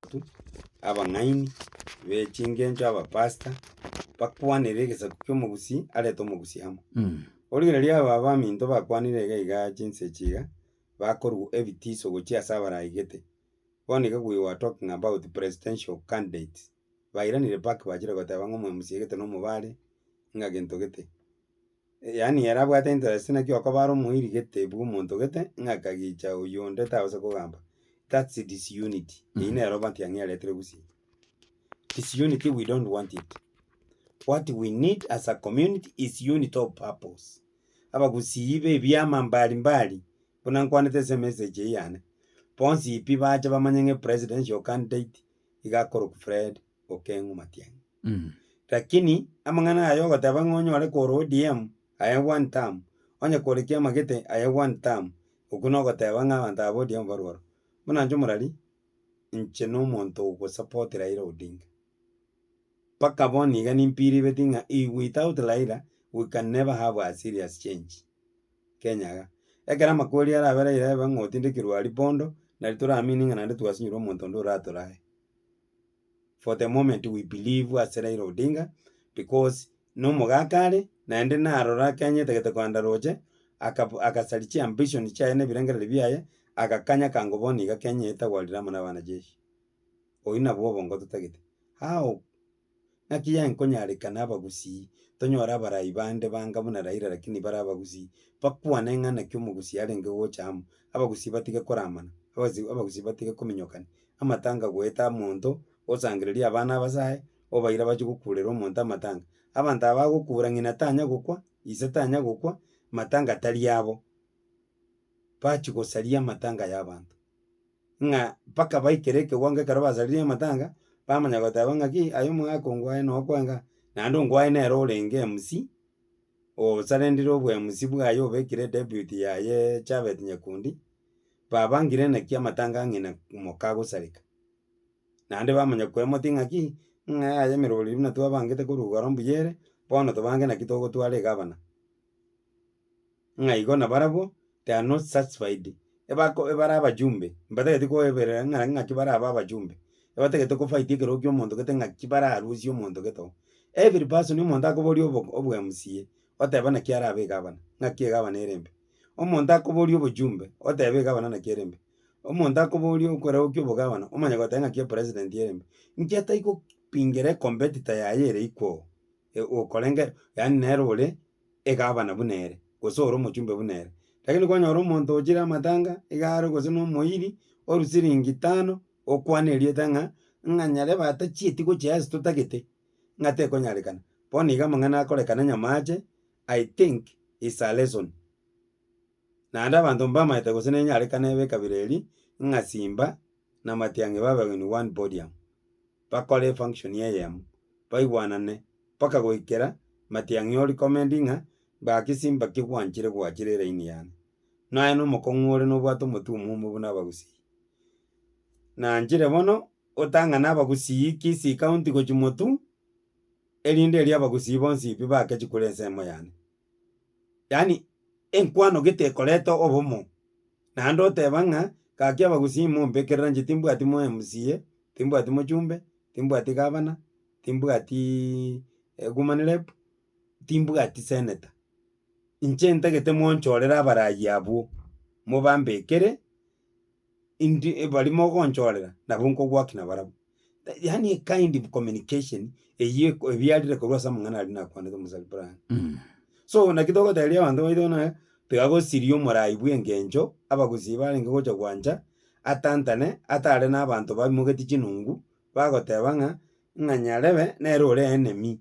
Abanto, abang'aini be chingencho, abapastor, bakwanere egesaku ki'omogusii arete omogusii amo. Boria riria aba abaminto bakwanire iga iga chinsa echi iga, bakorua ebitiso gochia ase abaraigete. Bono iga we were talking about presidential candidates, bairanire back bachire goteba ng'a omwe msiegete na omobare, ng'a gento gete. Yaani ere abwate interest naki okobara omoiri gete bw'omonto gete ng'a akagicha oyonde tabasa kogamba. That's disunity. Eyio Mhm. nero matiang'i aretire gusii. Disunity we don't want it. What we need as a community is unity of purpose. Abagusii ba ebiama mbali mbali buna nkwanete ase emessage eye yane, bonsi pi bache bamanye ng'a epresidential candidate iga akorokwa Fred Okeng'u Matiang'i. Lakini amang'ana aya ogoteba ng'a onyore korwa ODM aye one term, onye kore kiamagete aye one term, okwo nogoteba ng'a abanto aba ba ODM barwe aro. Buna inche omorari, inche na omonto ogosupport Raila Odinga, mpaka bono iga nimbiriveti ng'a if without Raila we can never have a serious change Kenya iga. Ekero amakweri arabe Raila eba ng'a otindekirwe aria bondo, nari toramini ng'a naende twasinyire omonto onde oratora aye. for the moment we believe ase Raila Odinga, because na omogaka are, naende narora akenyete gete koganda roche, akab agasari chiambition chiaye na ebirengereri biaye, agakanya kango bono iga Kenya eye etagwarire amo na abanacheshi. Oyio nabwo obongo totagete. How? Naki yaye nkonyarekana abagusii, tonyore abarai bande banga buna Raila lakini bare abagusii, bakwane ng'a naki omogusii arenge gocha amo, abagusii batige koramana, abasi abagusii batige kominyokani. amatanga goeta monto osangereria abana abasae, obaire abachie gokurera omonto amatanga. Abanto aba bagokura ng'ina tanya gokwa, ise tanya gokwa, matanga tari abo. Bachie gosaria amatanga ya abanto, ng'a mpaka baikere ekewango ekero basaririe amatanga, bamanya goteba ng'aki aye omogaka ongwaye noo kwanga, naende ongwaye nere orenge MC, osarenire obwa MC bwaye obekire deputy yaye Chabet Nyakundi. babangire naki amatanga ang'e na moka agosareka. Naende bamanya kwemoti ng'aki, ng'a yaya emerori buna twabangete korwa igoro mbuya ere, bono tobange naki togotwara egabana. Ng'a igo na barabwo they are not satisfied ebako ebare abajumbe, mbatageti koeberera ng'a ng'aki bare abe abajumbe, ebatagete ko fight ekerogo kia omonto gete ng'aki bararusie omonto gete oo. Every person omonto akoboria obo obo mca, oteba naki arabe egabana, ng'aki egabana ere mbe. Omonto akoboria obochumbe, otebe egavana naki ere mbe. Omonto akoboria okoragokia obogavana, omanye goteba ng'aki epresident ere mbe. Inki atai go pingira ecompetitor yaye ere ikwoo, e- okorenge yaani nere ore egavana buna ere, gose ore omochumbe buna ere. Lakini kwanyora omonto ochire amatanga, igare gose na omoiri, oru siringi tano, okwana erieta ng'a, ng'a nyarebe atachieti gochia ase totagete, ng'a tekonyarekana. Bono iga amang'ana akorekana nyamache, I think it's a lesson. Naende abanto mbamaete gose nenyarekane b'ekabira eri ng'a Simba na Matiang'i babewe in one podium, bakore efunction eyemo, baigwanane mpaka goikera Matiang'i o recommend ng'a gaki Simba ki gwanchire gwachire eraini yane. Nonya nomokong'u ore nobwate omotwe omomo buna abagusii. Nanchire bono otang'ane abagusii Kisii County gochia Motu. erinde erio abagusii bonsi pi bakechi kore ensemo yane. Yaani enkwano gete ekoreta obomo, naende oteba ng'a gaki abagusii mombekerera inche timbwati mo mca, timbwati mochumbe, timbwati gavana, timbwatiiii woman rep, timbwati senator, inche ntagete monchorere abarai abwo, mobambekere. indi baria mogonchorera nabo nkogwaki nabarabwo. Yaani a kind of communication eyio eko ebiarire korwa ase amang'ana aria nakwanete omosani bwange. So naki togoteberia abanto baito buna eh, tiga gosiria omorai bw'engencho, abagusii barenge gocha gwancha, atantane, atare na abanto bamogetie chinungu, bagoteba ng'a, ng'a Nyarebe nere ore enemy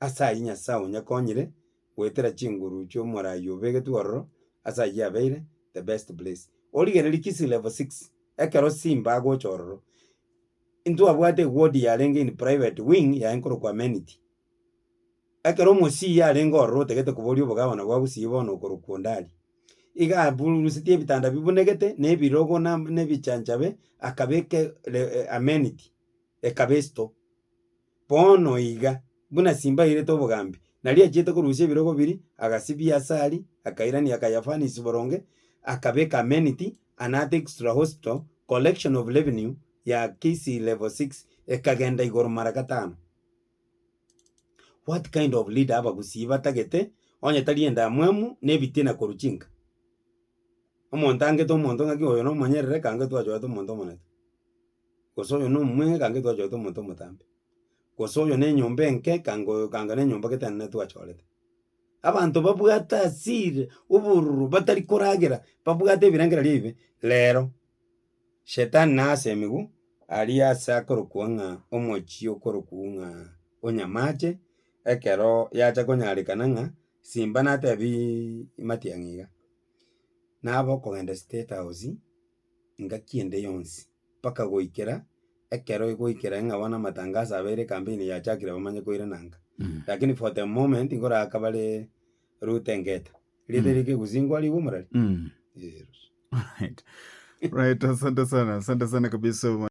ase ayio Nyasae onyakonyire goetera chinguru chi'omorai obegetwe ororo ase ayio abeire, the best place. Origererie Kisii Level Six, ekero Simba agocha ororo, intwabwate eward yarenge in private wing yaye nkorokwa Amenity. Ekero omosii arenge ororo otagete koboria obogabana bwa Gusii bono okorokwa Ondari, iga abururusetie ebitanda bibunegete na ebirogo na ebichanchabe akabeka Amenity ekaba esito. Bono iga, buna Simba airete obogambi, nari achiete korusia ebirogo biria, agasibia asari, akairania Kayafanis boronge, akabeka Amenity and Art Extra Hospital, Collection of Revenue ya Kisii Level Six ekagenda igoro mara gatano. What kind of leader abagusii batagete onye tari endamwamu na ebitina korwa chinka? Omonto angete omonto ng'aki oyo nomonyerere, eka angete oyo achwete omonto omonene. Gose oyo nomomura ekange twachorete omonto omotambe, gose oyo nenyomba enke ekange oyo ekange ne nyomba gete nere twachorete. Abanto babwate asiri obororo batari koragera, babwate ebirengererio ebibe, rero shetani na ase emigwe aria ase akorokwa ng'a omochie okorokwa ng'a onyamache, ekero yacha konyarekana ng'a simba natebiiii matiang'i iga, nabo okogenda state house. engaki ende yonsi, mpaka goikera ekero egoikera ng'a bono amatangaso abeire campaign yachakire bamanye koirana ng'a. Lakini for the moment nkoraaka bare Ruto engeta, rieta erio kegusingwa rigwe omorari. Alright, asante sana, asante sana kabisa.